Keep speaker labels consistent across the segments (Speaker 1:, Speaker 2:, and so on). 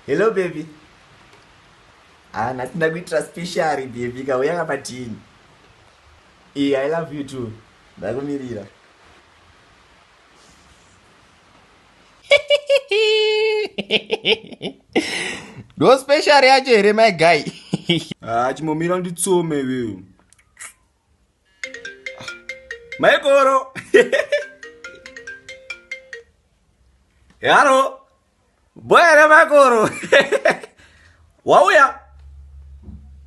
Speaker 1: hello baby ah nhasi ndakuitira special baby kauya kapadini e i love you too ndakumirira
Speaker 2: ndo special yacho here my guy ah chimomira
Speaker 1: nditsome veu Maikoro. Yaro. Boya re makoro. Wauya.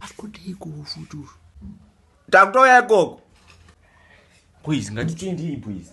Speaker 2: Akudei kufutu.
Speaker 1: Takutoya ikoko. Please, ngatichindii please.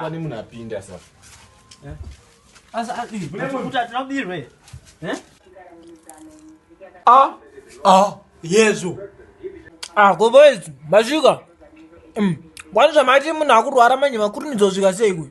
Speaker 2: pane munhu apinda
Speaker 3: sa yezu goboys masvika kwani zvamati munhu akurwara manje makurumidza kusvika sei kuyo